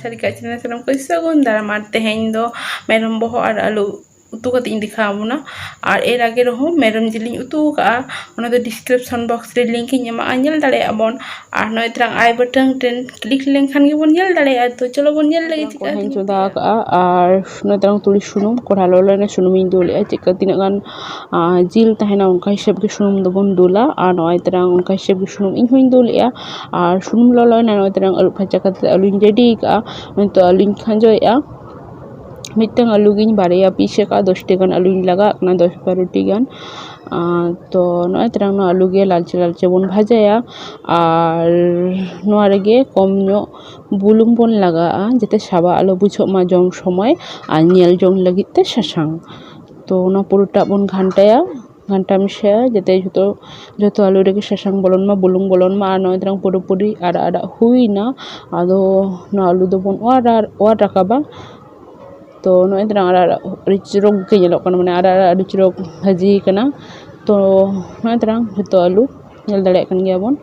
ᱥᱟᱹᱨᱤ ᱠᱟᱜ ᱪᱮᱱᱮᱞ ᱥᱟᱱᱟᱢ ᱠᱚ ᱥᱟᱹᱜᱩᱱ ᱫᱟᱨᱟᱢ ᱟᱨ ᱛᱮᱦᱮᱧ ᱫᱚ ᱢᱮᱨᱚᱢ ᱵᱚᱦᱚᱜ ᱟᱨ ᱟᱹᱞᱩ ᱩᱛᱩ ᱠᱟᱛᱮ ᱤᱧ ᱫᱮᱠᱷᱟᱣ ᱵᱚᱱᱟ ᱟᱨ ᱮᱨ ᱟᱜᱮ ᱨᱮᱦᱚᱸ ᱢᱮᱨᱚᱢ ᱡᱤᱞᱤᱧ ᱩᱛᱩ ᱟᱠᱟᱫᱼᱟ ᱚᱱᱟ ᱫᱚ ᱰᱤᱥᱠᱨᱤᱯᱥᱚᱱ ᱵᱚᱠᱥ ᱨᱮ ᱞᱤᱝᱠ ᱤᱧ ᱮᱢᱟᱜᱼᱟ ᱧᱮᱞ ᱫᱟᱲᱮᱭᱟᱜ ᱵᱚᱱ ᱟᱨ ᱱᱚᱜᱼᱚᱭ ᱛᱨᱟᱝ ᱟᱭ ᱵᱟᱴᱟᱝ ᱴᱨᱮᱱ ᱠᱞᱤᱠ ᱞᱮᱱᱠᱷᱟᱱ ᱜᱮᱵᱚᱱ ᱧᱮᱞ ᱫᱟᱲᱮᱭᱟᱜᱼᱟ ᱛᱚ ᱪᱚᱞᱚ ᱵᱚᱱ ᱧᱮᱞ ᱞᱟᱹᱜᱤᱫ ᱪᱮᱫᱠᱟ ᱦᱚᱧ ᱪᱚᱸᱫᱟ ᱟᱠᱟᱫᱼᱟ ᱟᱨ ᱱᱚᱜᱼᱚᱭ ᱛᱨᱟᱝ ᱛᱩᱲᱤ ᱥᱩᱱᱩᱢ ᱠᱚᱲᱦᱟ ᱞᱚᱞᱚᱭᱮᱱᱟ ᱥᱩᱱᱩᱢᱤᱧ ᱫᱩᱞᱮᱫᱼᱟ ᱪᱮᱫᱠᱟ ᱛᱤᱱᱟᱹᱜ ᱜᱟᱱ ᱡᱤᱞ ᱛᱟᱦᱮᱱᱟ ᱚᱱᱠᱟ ᱦᱤᱥᱟᱹᱵ ᱜᱮ ᱥᱩᱱᱩᱢ ᱫᱚᱵᱚᱱ ᱫᱩᱞᱟ ᱟᱨ ᱱᱚᱜᱼᱚᱭ ᱛᱚᱨᱟᱝ ᱚᱱᱠᱟ ᱦᱤᱥᱟᱹᱵ ᱜᱮ ᱥᱩᱱᱩᱢ ᱤᱧ ᱦᱚᱸᱧ ᱫᱩᱞᱮᱫᱼᱟ ᱟᱨ ᱥᱩᱱᱩᱢ ᱞᱚᱞᱚᱭᱮᱱᱟ ᱱᱚᱜᱼᱚᱭ ᱛᱚᱨᱟᱝ ᱟᱹᱨᱩᱵ ᱯᱷᱟᱨᱪᱟ ᱠᱟᱛᱮ ᱟᱹᱞᱩᱧ ᱨᱮᱰᱤ ᱠᱟᱜᱼᱟ ᱱᱤᱛᱳᱜ ᱟᱹᱞᱩᱧ ᱠᱷᱟᱸᱡᱚᱭᱮᱫᱼᱟ ᱢᱤᱫᱴᱟᱝ ᱟᱹᱞᱩ ᱜᱤᱧ ᱵᱟᱨᱭᱟ ᱯᱤᱥ ᱟᱠᱟᱫᱼᱟ ᱫᱚᱥᱴᱤ ᱜᱟᱱ ᱟᱹᱞᱩᱧ ᱞᱟᱜᱟᱣᱟᱜ ᱠᱟᱱᱟ ᱫᱚᱥ ᱵᱟᱨᱚᱴᱤ ᱜᱟᱱ ᱟᱨ ᱛᱚ ᱱᱚᱜᱼᱚᱭ ᱛᱚᱨᱟᱝ ᱱᱚᱣᱟ ᱟᱹᱞᱩ ᱜᱮ ᱞᱟᱞᱪᱮ ᱞᱟᱞᱪᱮ ᱵᱚᱱ ᱵᱷᱟᱡᱟᱭᱟ ᱟᱨ ᱱᱚᱣᱟ ᱨᱮᱜᱮ ᱠᱚᱢ ᱧᱚᱜ ᱵᱩᱞᱩᱝ ᱵᱚᱱ ᱞᱟᱜᱟᱣᱟᱜᱼᱟ ᱡᱟᱛᱮ ᱥᱟᱵᱟᱜ ᱟᱞᱚ ᱵᱩᱡᱷᱟᱹᱜ ᱢᱟ ᱡᱚᱢ ᱥᱚᱢᱚᱭ ᱟᱨ ᱧᱮᱞ ᱡᱚᱝ ᱞᱟᱹᱜᱤᱫ ᱛᱮ ᱥᱟᱥᱟᱝ ᱛᱚ ᱚᱱᱟ ᱯᱩᱨᱟᱹᱴᱟᱜ ᱵᱚᱱ ᱜᱷᱟᱱᱴᱟᱭᱟ ᱜᱷᱟᱱᱴᱟ ᱢᱮᱥᱟᱭᱟ ᱡᱟᱛᱮ ᱡᱷᱚᱛᱚ ᱡᱚᱛᱚ ᱟᱹᱞᱩ ᱨᱮᱜᱮ ᱥᱟᱥᱟᱝ ᱵᱚᱞᱚᱱ ᱢᱟ ᱵᱩᱞᱩᱝ ᱵᱚᱞᱚᱱ ᱢᱟ ᱟᱨ ᱱᱚᱜᱼᱚᱭ ᱛᱚᱨᱟᱝ ᱯᱩᱨᱟᱹᱯᱩᱨᱤ ᱟᱨᱟᱜ ᱟᱨᱟᱜ ᱦᱩᱭᱱᱟ ᱟᱫᱚ ᱱᱚᱣᱟ ᱟᱹᱞᱩ ᱫᱚᱵᱚᱱ ᱚᱣᱟᱨ ᱟᱨ ᱚᱣᱟᱨ ᱨᱟᱠᱟᱵᱟ ᱛᱚ ᱱᱚᱜᱼᱚᱭ ᱛᱚᱨᱟᱝ ᱟᱨᱟᱜ ᱟᱨᱟᱜ ᱟᱹᱰᱤ ᱪᱚᱨᱚᱠ ᱜᱮ ᱧᱮᱞᱚᱜ ᱠᱟᱱᱟ ᱢᱟᱱᱮ ᱟᱨᱟᱜ ᱟᱨᱟᱜ ᱟᱹᱰᱤ ᱪᱚᱨᱚᱠ ᱵᱷᱟᱹᱡᱤᱭ ᱠᱟᱱᱟ ᱛᱚ ᱱᱚᱜᱼᱚᱭ ᱛᱚᱨᱟᱝ ᱡᱷᱚᱛᱚ ᱟᱹᱞᱩ ᱧᱮᱞ ᱫᱟᱲᱮᱭᱟᱜ ᱠᱟᱱ ᱜᱮᱭᱟᱵᱚᱱ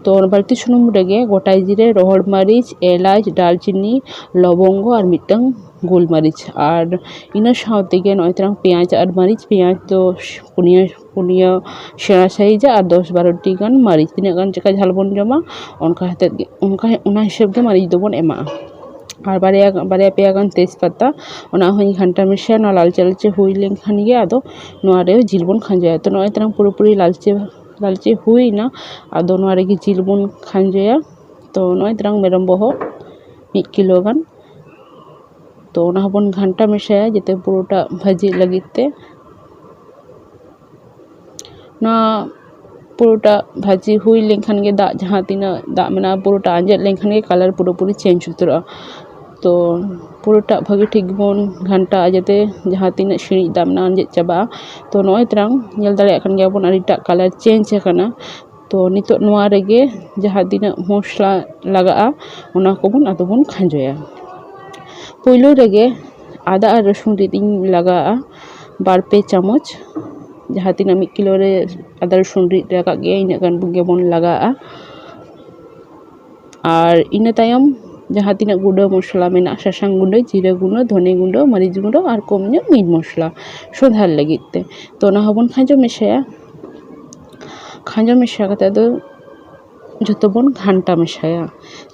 ᱛᱚ ᱵᱟᱹᱲᱛᱤ ᱥᱩᱱᱩᱢ ᱨᱮᱜᱮ ᱜᱚᱴᱟ ᱡᱤᱨᱮ ᱨᱚᱦᱚᱲ ᱢᱟᱹᱨᱤᱪ ᱮᱞᱟᱪ ᱫᱟᱨᱪᱤᱱᱤ ᱞᱚᱵᱚᱝᱜᱚ ᱟᱨ ᱢᱤᱫᱴᱟᱹᱝ ᱜᱳᱞ ᱢᱟᱹᱨᱤᱪ ᱟᱨ ᱤᱱᱟᱹ ᱥᱟᱶ ᱛᱮᱜᱮ ᱱᱚᱜᱼᱚᱭ ᱛᱚᱨᱟᱝ ᱯᱮᱸᱭᱟᱡᱽ ᱟᱨ ᱢᱟᱹᱨᱤᱪ ᱯᱮᱸᱭᱟᱡᱽ ᱫᱚ ᱯᱩᱱᱭᱟᱹ ᱯᱩᱱᱭᱟᱹ ᱥᱮᱬᱟ ᱥᱟᱺᱦᱤᱡᱟᱜ ᱟᱨ ᱫᱚᱥ ᱵᱟᱨᱚᱴᱤ ᱜᱟᱱ ᱢᱟᱹᱨᱤᱪ ᱛᱤᱱᱟᱹᱜ ᱜᱟᱱ ᱪᱮᱫᱠᱟ ᱡᱷᱟᱞ ᱵᱚᱱ ᱡᱚᱢᱟ ᱚᱱᱠᱟ ᱦᱚᱛᱮᱫ ᱜᱮ ᱚᱱᱠᱟ ᱚᱱᱟ ᱦᱤᱥᱟᱹᱵ ᱜᱮ ᱢᱟᱹᱨᱤᱪ ᱫᱚᱵᱚᱱ ᱮᱢᱟᱜᱼᱟ ᱟᱨ ᱵᱟᱨᱭᱟ ᱜᱟᱱ ᱵᱟᱨᱭᱟ ᱯᱮᱭᱟ ᱜᱟᱱ ᱛᱮᱡᱽ ᱯᱟᱛᱟ ᱚᱱᱟ ᱦᱚᱸᱧ ᱜᱷᱟᱱᱴᱟ ᱢᱮᱥᱟᱭᱟ ᱚᱱᱟ ᱞᱟᱞᱪᱮ ᱞᱟᱞᱪᱮ ᱦᱩᱭ ᱞᱮᱱᱠᱷᱟᱱ ᱜᱮ ᱟᱫᱚ ᱱᱚᱣᱟ ᱨᱮ ᱡᱤᱞ ᱵᱚᱱ ᱠᱷᱟᱸᱡᱚᱭᱟ ᱛᱚ ᱱᱚᱜᱼᱚᱭ ᱛᱚᱨᱟᱝ ᱯᱩᱨᱟᱹ ᱯᱩᱨᱤ ᱞᱟᱞᱪᱮ ᱞᱟᱞᱪᱮ ᱦᱩᱭᱱᱟ ᱟᱫᱚ ᱱᱚᱣᱟ ᱨᱮᱜᱮ ᱡᱤᱞ ᱵᱚᱱ ᱠᱷᱟᱸᱡᱚᱭᱟ ᱛᱚ ᱱᱚᱜᱼᱚᱭ ᱛᱚᱨᱟᱝ ᱢᱮᱨᱚᱢ ᱵᱚᱦᱚᱜ ᱢᱤᱫ ᱠᱤᱞᱳ ᱜᱟᱱ ᱛᱚ ᱚᱱᱟ ᱦᱚᱸᱵᱚᱱ ᱜᱷᱟᱱᱴᱟ ᱢᱮᱥᱟᱭᱟ ᱡᱟᱛᱮ ᱯᱩᱨᱟᱹᱴᱟ ᱵᱷᱟᱹᱡᱤᱜ ᱞᱟᱹᱜᱤᱫ ᱛᱮ ᱱᱚᱣᱟ ᱯᱩᱨᱟᱹᱴᱟ ᱵᱷᱟᱹᱡᱤ ᱦᱩᱭ ᱞᱮᱱᱠᱷᱟᱱ ᱜᱮ ᱫᱟᱜ ᱡᱟᱦᱟᱸ ᱛᱤᱱᱟᱹᱜ ᱫᱟᱜ ᱢᱮᱱᱟᱜᱼᱟ ᱯᱩᱨᱟᱹᱴᱟ ᱟᱸᱡᱮᱫ ᱞᱮᱱᱠᱷᱟᱱ ᱜᱮ ᱠᱟᱞᱟᱨ ᱯᱩᱨᱟᱹᱯᱩᱨᱤ ᱪᱮᱧᱡᱽ ᱩᱛᱟᱹᱨᱚᱜᱼᱟ ᱛᱚ ᱯᱩᱨᱟᱹᱴᱟ ᱵᱷᱟᱹᱜᱤ ᱴᱷᱤᱠ ᱵᱚᱱ ᱜᱷᱟᱱᱴᱟᱣᱟᱜᱼᱟ ᱡᱟᱛᱮ ᱡᱟᱦᱟᱸ ᱛᱤᱱᱟᱹᱜ ᱥᱤᱬᱤᱡ ᱫᱟᱜ ᱢᱮᱱᱟᱜᱼᱟ ᱟᱸᱡᱮᱫ ᱪᱟᱵᱟᱜᱼᱟ ᱛᱚ ᱱᱚᱜᱼᱚᱭ ᱛᱟᱨᱟᱝ ᱧᱮᱞ ᱫᱟᱲᱮᱭᱟᱜ ᱠᱟᱱ ᱜᱮᱭᱟᱵᱚᱱ ᱟᱹᱰᱤᱴᱟ ᱠᱟᱞᱟᱨ ᱪᱮᱧᱡᱽ ᱟᱠᱟᱱᱟ ᱛᱚ ᱱᱤᱛᱚᱜ ᱱᱚᱣᱟ ᱨᱮᱜᱮ ᱡᱟᱦᱟᱸ ᱛᱤᱱᱟᱹᱜ ᱢᱚᱥᱞᱟ ᱞᱟᱜᱟᱜᱼᱟ ᱚᱱᱟ ᱠᱚᱵᱚᱱ ᱟᱫᱚ ᱵᱚᱱ ᱠᱷᱟᱸᱡᱚᱭᱟ ᱯᱳᱭᱞᱳ ᱨᱮᱜᱮ ᱟᱫᱟ ᱟᱨ ᱨᱟᱹᱥᱩᱱ ᱨᱤᱫ ᱤᱧ ᱞᱟᱜᱟᱣᱟᱜᱼᱟ ᱵᱟᱨ ᱯᱮ ᱪᱟᱢᱚᱪ ᱡᱟᱦᱟᱸ ᱛᱤᱱᱟᱹᱜ ᱢᱤᱫ ᱠᱤᱞᱳ ᱨᱮ ᱟᱫᱟ ᱨᱟᱹᱥᱩᱱ ᱨᱤᱫ ᱨᱟᱠᱟᱵ ᱜᱮᱭᱟ ᱤᱱᱟᱹᱜ ᱜᱟᱱ ᱜᱮᱵᱚᱱ ᱞᱟᱜᱟᱣᱟᱜᱼᱟ ᱟᱨ ᱤᱱᱟᱹ ᱛᱟᱭᱚᱢ ᱡᱟᱦᱟᱸ ᱛᱤᱱᱟᱹᱜ ᱜᱩᱰᱟᱹ ᱢᱚᱥᱞᱟ ᱢᱮᱱᱟᱜᱼᱟ ᱥᱟᱥᱟᱝ ᱜᱩᱰᱟᱹ ᱡᱤᱨᱟᱹ ᱜᱩᱰᱟᱹ ᱫᱷᱚᱱᱮ ᱜᱩᱰᱟᱹ ᱢᱟᱹᱨᱤᱪ ᱜᱩᱰᱟᱹ ᱟᱨ ᱠᱚᱢ ᱧᱚᱜ ᱢᱤᱴ ᱢᱚᱥᱞᱟ ᱥᱚᱸᱫᱷᱟᱲ ᱞᱟᱹᱜᱤᱫ ᱛᱮ ᱛᱚ ᱚᱱᱟ ᱦᱚᱸᱵᱚᱱ ᱠᱷᱟᱸᱡᱚ ᱢᱮᱥᱟᱭᱟ ᱠᱷᱟᱸᱡᱚ ᱢᱮᱥᱟ ᱠᱟᱛᱮ ᱟᱫᱚ ᱡᱷᱚᱛᱚ ᱵᱚᱱ ᱜᱷᱟᱱᱴᱟ ᱢᱮᱥᱟᱭᱟ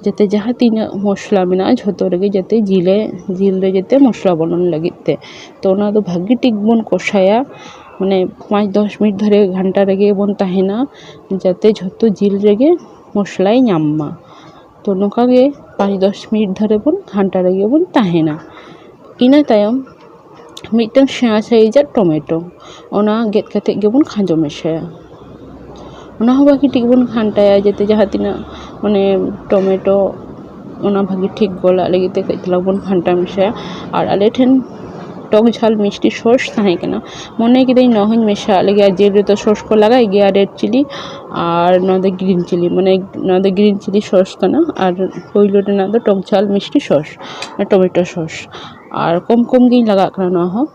ᱡᱟᱛᱮ ᱡᱟᱦᱟᱸ ᱛᱤᱱᱟᱹᱜ ᱢᱚᱥᱞᱟ ᱢᱮᱱᱟᱜᱼᱟ ᱡᱷᱚᱛᱚ ᱨᱮᱜᱮ ᱡᱟᱛᱮ ᱡᱤᱞᱮ ᱡᱤᱞ ᱨᱮ ᱡᱟᱛᱮ ᱢᱚᱥᱞᱟ ᱵᱚᱞᱚᱱ ᱞᱟᱹᱜᱤᱫ ᱛᱮ ᱛᱚ ᱚᱱᱟ ᱫᱚ ᱵᱷᱟᱜᱮ ᱴᱷᱤᱠ ᱵᱚᱱ ᱠᱚᱥᱟᱭᱟ ᱢᱟᱱᱮ ᱯᱟᱸᱪ ᱫᱚᱥ ᱢᱤᱱᱤᱴ ᱫᱷᱚᱨᱮ ᱜᱷᱟᱱᱴᱟ ᱨᱮᱜᱮ ᱵᱚᱱ ᱛᱟᱦᱮᱱᱟ ᱡᱟᱛᱮ ᱡᱷᱚᱛᱚ ᱡᱤᱞ ᱨᱮᱜᱮ ᱢᱚᱥᱞᱟᱭ ᱧᱟᱢ ᱢᱟ ᱛᱚ ᱱᱚᱝᱠᱟ ᱜᱮ ᱯᱟᱸᱪ ᱫᱚᱥ ᱢᱤᱱᱤᱴ ᱫᱷᱚᱨᱮ ᱵᱚᱱ ᱜᱷᱟᱱᱴᱟ ᱨᱮᱜᱮ ᱵᱚᱱ ᱛᱟᱦᱮᱱᱟ ᱤᱱᱟᱹ ᱛᱟᱭᱚᱢ ᱢᱤᱫᱴᱟᱝ ᱥᱮᱬᱟ ᱥᱟᱭᱤᱡᱟᱜ ᱴᱚᱢᱮᱴᱳ ᱚᱱᱟ ᱜᱮᱫ ᱠᱟᱛᱮ ᱜᱮᱵᱚᱱ ᱠᱷᱟᱸᱡᱚ ᱢᱮᱥᱟᱭᱟ ᱚᱱᱟ ᱦᱚᱸ ᱵᱷᱟᱹᱜᱤ ᱴᱷᱤᱠ ᱵᱚᱱ ᱜᱷᱟᱱᱴᱟᱭᱟ ᱡᱟᱛᱮ ᱡᱟᱦᱟᱸ ᱛᱤᱱᱟᱹᱜ ᱢᱟᱱᱮ ᱴᱚᱢᱮᱴᱳ ᱚᱱᱟ ᱵᱷᱟᱹᱜᱤ ᱴᱷᱤᱠ ᱜᱚᱞᱟᱜ ᱞᱟᱹᱜᱤᱫ ᱛᱮ ᱠᱟᱹᱡ ᱪᱟᱞᱟᱝ ᱵᱚᱱ ᱜᱷᱟᱱᱴᱟ ᱢᱮᱥᱟᱭᱟ ᱟᱨ ᱟᱞᱮ ᱴᱷᱮᱱ ᱴᱚᱠ ᱡᱷᱟᱞ ᱢᱤᱥᱴᱤ ᱥᱚᱥ ᱛᱟᱦᱮᱸ ᱠᱟᱱᱟ ᱢᱚᱱᱮ ᱠᱤᱫᱟᱹᱧ ᱱᱚᱣᱟ ᱦᱚᱸᱧ ᱢᱮᱥᱟᱣᱟᱜ ᱞᱮᱜᱮ ᱡᱤᱞ ᱨᱮᱫᱚ ᱥᱚᱥ ᱠᱚ ᱞᱟᱜᱟᱜ ᱜᱮᱭᱟ ᱨᱮᱰ ᱪᱤᱞᱤ ᱟᱨ ᱱᱚᱣᱟ ᱫᱚ ᱜᱨᱤᱱ ᱪᱤᱞᱤ ᱢᱟᱱᱮ ᱱᱚᱣᱟ ᱫᱚ ᱜᱨᱤᱱ ᱪᱤᱞᱤ ᱥᱚᱥ ᱠᱟᱱᱟ ᱟᱨ ᱯᱳᱭᱞᱳ ᱨᱮᱱᱟᱜ ᱫᱚ ᱴᱚᱠ ᱡᱷᱟᱞ ᱢᱤᱥᱴᱤ ᱥᱚᱥ ᱴᱚᱢᱮᱴᱳ ᱥᱚᱥ ᱟᱨ ᱠᱚᱢ ᱠᱚᱢ ᱜᱤᱧ ᱞᱟᱜᱟᱣᱟᱜ ᱠᱟᱱᱟ ᱱᱚᱣᱟ ᱦᱚᱸ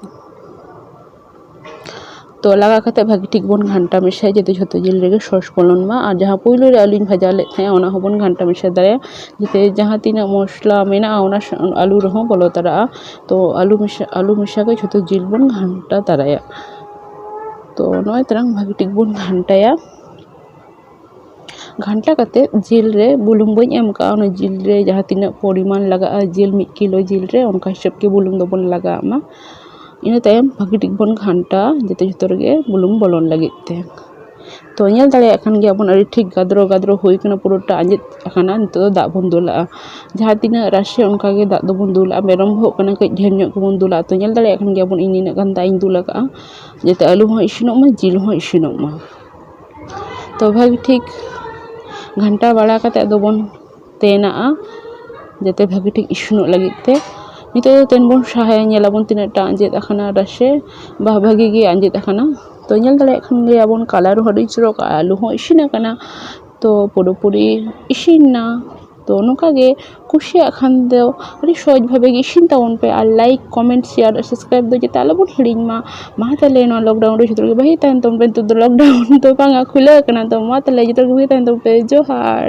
ᱛᱚ ᱞᱟᱜᱟᱣ ᱠᱟᱛᱮ ᱵᱷᱟᱹᱜᱤ ᱴᱷᱤᱠ ᱵᱚᱱ ᱜᱷᱟᱱᱴᱟ ᱢᱮᱥᱟᱭᱟ ᱡᱟᱛᱮ ᱡᱷᱚᱛᱚ ᱡᱤᱞ ᱨᱮᱜᱮ ᱥᱚᱥ ᱵᱚᱞᱚᱱ ᱢᱟ ᱟᱨ ᱡᱟᱦᱟᱸ ᱯᱳᱭᱞᱳ ᱨᱮ ᱟᱹᱞᱩᱧ ᱵᱷᱟᱡᱟ ᱞᱮᱫ ᱛᱟᱦᱮᱸᱫ ᱚᱱᱟ ᱦᱚᱸᱵᱚᱱ ᱜᱷᱟᱱᱴᱟ ᱢᱮᱥᱟ ᱫᱟᱲᱮᱭᱟᱜᱼᱟ ᱡᱟᱛᱮ ᱡᱟᱦᱟᱸ ᱛᱤᱱᱟᱹᱜ ᱢᱚᱥᱞᱟ ᱢᱮᱱᱟᱜᱼᱟ ᱚᱱᱟ ᱟᱹᱞᱩ ᱨᱮᱦᱚᱸ ᱵᱚᱞᱚ ᱛᱚᱨᱟᱜᱼᱟ ᱛᱚ ᱟᱹᱞᱩ ᱢᱮᱥᱟ ᱟᱹᱞᱩ ᱢᱮᱥᱟ ᱠᱟᱛᱮ ᱡᱷᱚᱛᱚ ᱡᱤᱞ ᱵᱚᱱ ᱜᱷᱟᱱᱴᱟ ᱛᱟᱨᱟᱭᱟ ᱛᱚ ᱱᱚᱜᱼᱚᱭ ᱛᱟᱞᱟᱝ ᱵᱷᱟᱹᱜᱤ ᱴᱷᱤᱠ ᱵᱚᱱ ᱜᱷᱟᱱᱴᱟᱭᱟ ᱜᱷᱟᱱᱴᱟ ᱠᱟᱛᱮ ᱡᱤᱞ ᱨᱮ ᱵᱩᱞᱩᱝ ᱵᱟᱹᱧ ᱮᱢ ᱠᱟᱜᱼᱟ ᱚᱱᱟ ᱡᱤᱞ ᱨᱮ ᱡᱟᱦᱟᱸ ᱛᱤᱱᱟᱹᱜ ᱯᱚᱨᱤᱢᱟᱱ ᱞᱟᱜᱟᱜᱼᱟ ᱡᱤᱞ ᱢᱤᱫ ᱠᱤᱞᱳ ᱡᱤᱞ ᱨᱮ ᱚᱱᱠᱟ ᱦᱤᱥᱟᱹᱵ ᱛᱮ ᱵᱩᱞᱩᱝ ᱫᱚᱵᱚᱱ ᱞᱟᱜᱟᱣᱟᱜ ᱢᱟ ᱤᱱᱟᱹ ᱛᱟᱭᱚᱢ ᱵᱷᱟᱹᱜᱤ ᱴᱷᱤᱠ ᱵᱚᱱ ᱜᱷᱟᱱᱴᱟᱣᱟ ᱡᱟᱛᱮ ᱡᱚᱛᱚ ᱨᱮᱜᱮ ᱵᱩᱞᱩᱝ ᱵᱚᱞᱚᱱ ᱞᱟᱹᱜᱤᱫ ᱛᱮ ᱛᱚ ᱧᱮᱞ ᱫᱟᱲᱮᱭᱟᱜ ᱠᱟᱱ ᱜᱮᱭᱟ ᱵᱚᱱ ᱟᱹᱰᱤ ᱴᱷᱤᱠ ᱜᱟᱫᱽᱨᱚ ᱜᱟᱫᱽᱨᱚ ᱦᱩᱭ ᱠᱟᱱᱟ ᱯᱩᱨᱟᱹᱴᱟ ᱟᱸᱡᱮᱫ ᱟᱠᱟᱱᱟ ᱱᱤᱛᱚᱜ ᱫᱚ ᱫᱟᱜ ᱵᱚᱱ ᱫᱩᱞᱟᱜᱼᱟ ᱡᱟᱦᱟᱸ ᱛᱤᱱᱟᱹᱜ ᱨᱟᱥᱮ ᱚᱱᱠᱟ ᱜᱮ ᱫᱟᱜ ᱫᱚᱵᱚᱱ ᱫᱩᱞᱟᱜᱼᱟ ᱢᱮᱨᱚᱢ ᱵᱚᱦᱚᱜ ᱠᱟᱱᱟ ᱠᱟᱹᱡ ᱰᱷᱮᱨ ᱧᱚᱜ ᱜᱮᱵᱚᱱ ᱫᱩᱞᱟᱜᱼᱟ ᱛᱚ ᱧᱮᱞ ᱫᱟᱲᱮᱭᱟᱜ ᱠᱟᱱ ᱜᱮᱭᱟ ᱵᱚᱱ ᱤᱧ ᱱᱤᱱᱟᱹᱜ ᱜᱟᱱ ᱫᱟᱜ ᱤᱧ ᱫᱩᱞ ᱟᱠᱟᱫᱼᱟ ᱡᱟᱛᱮ ᱟᱹᱞᱩ ᱦᱚᱸ ᱤᱥᱤᱱᱚᱜ ᱢᱟ ᱡᱤᱞ ᱦᱚᱸ ᱤᱥᱤᱱᱚᱜ ᱢᱟ ᱛᱚ ᱵᱷᱟᱹᱜᱤ ᱴᱷᱤᱠ ᱜᱷᱟᱱᱴᱟ ᱵᱟᱲᱟ ᱠᱟᱛᱮᱫ ᱫᱚᱵᱚᱱ ᱛᱮᱱᱟᱜᱼᱟ ᱡᱟᱛᱮ ᱵᱷᱟᱹᱜᱤ ᱴᱷᱤᱠ ᱤᱥᱤᱱᱚᱜ ᱞᱟᱹᱜᱤᱫ ᱛᱮ ᱱᱤᱛᱚᱜ ᱫᱚ ᱛᱮᱱ ᱵᱚᱱ ᱥᱟᱦᱟᱭᱟ ᱧᱮᱞ ᱟᱵᱚᱱ ᱛᱤᱱᱟᱹᱜ ᱴᱟ ᱟᱸᱡᱮᱫ ᱟᱠᱟᱱᱟ ᱨᱟᱥᱮ ᱵᱟ ᱵᱷᱟᱹᱜᱤ ᱜᱮ ᱟᱸᱡᱮᱫ ᱟᱠᱟᱱᱟ ᱛᱚ ᱧᱮᱞ ᱫᱟᱲᱮᱭᱟᱜ ᱠᱷᱟᱱ ᱜᱮ ᱟᱵᱚᱱ ᱠᱟᱞᱟᱨ ᱦᱚᱸ ᱟᱹᱰᱤ ᱪᱚᱨᱚᱠ ᱟᱨ ᱟᱹᱞᱩ ᱦᱚᱸ ᱤᱥᱤᱱ ᱟᱠᱟᱱᱟ ᱛᱚ ᱯᱩᱨᱟᱹ ᱯᱩᱨᱤ ᱤᱥᱤᱱ ᱮᱱᱟ ᱛᱚ ᱱᱚᱝᱠᱟ ᱜᱮ ᱠᱩᱥᱤᱭᱟᱜ ᱠᱷᱟᱱ ᱫᱚ ᱟᱹᱰᱤ ᱥᱚᱦᱚᱡᱽ ᱵᱷᱟᱵᱮ ᱜᱮ ᱤᱥᱤᱱ ᱛᱟᱵᱚᱱ ᱯᱮ ᱟᱨ ᱞᱟᱭᱤᱠ ᱠᱚᱢᱮᱱᱴ ᱥᱮᱭᱟᱨ ᱟᱨ ᱥᱟᱵᱥᱠᱨᱟᱭᱤᱵᱽ ᱫᱚ ᱡᱟᱛᱮ ᱟᱞᱚ ᱵᱚᱱ ᱦᱤᱲᱤᱧ ᱢᱟ ᱢᱟ ᱛᱟᱦᱚᱞᱮ ᱱᱚᱣᱟ ᱞᱚᱠᱰᱟᱣᱩᱱ ᱨᱮ ᱡᱚᱛᱚ ᱦᱚᱲ ᱜᱮ ᱵᱷᱟᱹᱜᱤ ᱛᱟᱦᱮᱱ ᱛᱟᱵᱚᱱ ᱯᱮ ᱱᱤᱛᱚᱜ ᱫᱚ ᱞᱚᱠᱰᱟᱣᱩᱱ ᱫᱚ ᱵᱟᱝᱟ ᱠᱷᱩᱞᱟᱹᱣ ᱠᱟᱱᱟ ᱛᱚ ᱢᱟ ᱛᱟᱦᱚᱞᱮ ᱡᱚᱛᱚ ᱦᱚᱲ ᱜᱮ ᱵᱷᱟᱹᱜᱤ ᱛᱟᱦᱮᱱ ᱛᱟᱵᱚᱱ ᱯᱮ ᱡᱚᱦᱟᱨ